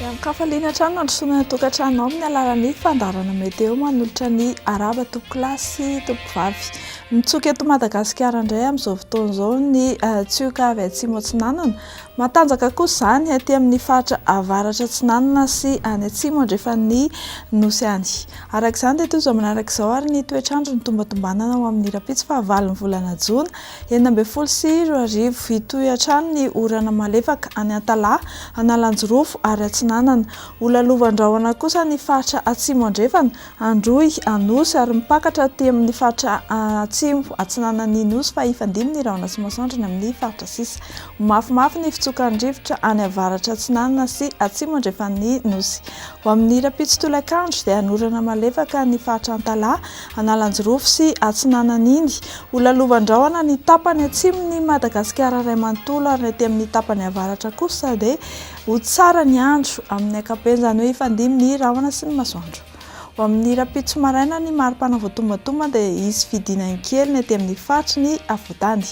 Miankafa liana hatrany mandrosoana ny tokantranonao amin'ny alalan'ny fandaharana meteo manolotra ny arahaba tompokolahy sy tompovavy. Mitsoka eto Madagasikara indray amin'izao fotoana izao ny tsioka avy atsimo atsinanana. Matanjaka kosa izany aty amin'ny faritra avaratra atsinanana sy any atsimo andrefan'ny nosy any. Araka izany dia toy izao manaraka izao ary ny toetr'andro nitombatombanana ho amin'ny rahampitso fahavalon'ny volana jona. Enina ambin'ny folo sy roa arivo, Hitohy hatrany ny orana malefaka any Antalaha, Analanjirofo ary Atsinanana. Ho lalovan-drahona kosa ny faritra Atsimo Andrefana, Androy, Anosy ary mipakatra aty amin'ny faritra Atsimo Atsinanan'ny Nosy fa hifandimby ny rahona sy masoandro eny amin'ny faritra sisa. Ho mafimafy ny fitsokan'ny rivotra any avaratra atsinanana sy atsimo andrefan'ny Nosy. Ho amin'ny rahampitso tolakandro dia hanorana malefaka ny faritra Antalaha, Analanjirofo sy Atsinanan'Indy. Ho lalovan-drahona ny tapany atsimon'i Madagasikara iray manontolo ary ny aty amin'ny tapany avaratra kosa dia ho tsara ny andro amin'ny ankapobeny, izany hoe hifandimby ny rahona sy ny masoandro. Ho amin'ny rahampitso maraina ny mari-pana voatombantomba dia hisy fidinany kely ny aty amin'ny faritry ny afovoantany.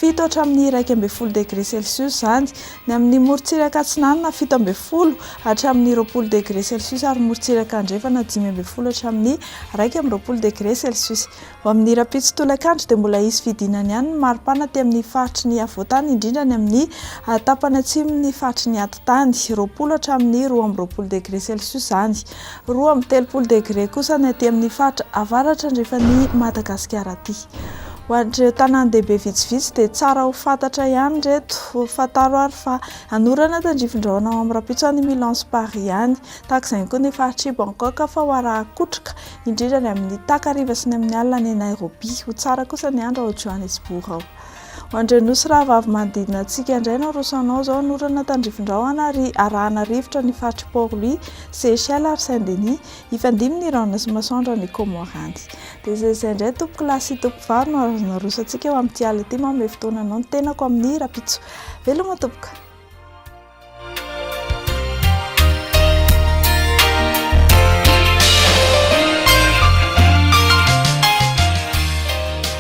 fito hatramin'ny iraika ambin'ny folo degré celsius izany, ny amin'ny morontsiraka atsinanana fito ambin'ny folo hatramin'ny roapolo degré celsius ary morontsiraka andrefana dimy ambin'ny folo hatramin'ny iraika amby roapolo degré celsius. Ho amin'ny rahampitso tolakandro dia mbola hisy fidinana ihany ny maripana aty amin'ny faritry ny afovoantany indrindra ny amin'ny tapany atsimon'ny faritry ny atitany, roapolo hatramin'ny roa amby roapolo degré celsius izany. Roa amby telopolo degre kosa ny aty amin'ny faritra avaratra andrefan'i Madagasikara aty. Ho an'ireo tanàn-dehibe vitsivitsy dia tsara ho fantatra ihany ireto. Fantaro ary fa hanorana tandrifin-drahona ao amin'ny rahampitso any Milan sy Paris any. Tahaka izay ihany koa ny faritr'i Bangkok fa ho arahan-kotroka, indrindra any amin'ny takariva sy ny amin'ny alina any Nairobi. Ho tsara kosa ny andro ao Johannesburg ao. Ho Andrianosy rahavavy manodidina antsika indray no arosanao izao ny orana tandrifindrahona ary arahana rivotra ny faritr'i Port-Louis, Seychelles ary Saint-Denis. Hifandimby ny rahona sy masoandro any Comores any. Dia izay izay indray tompokolahy sy tompokovavy no azonao arosantsika eo amin'ity alina ity. Manome fotoana anao ny tenako amin'ny rahampitso. Veloma tompoko.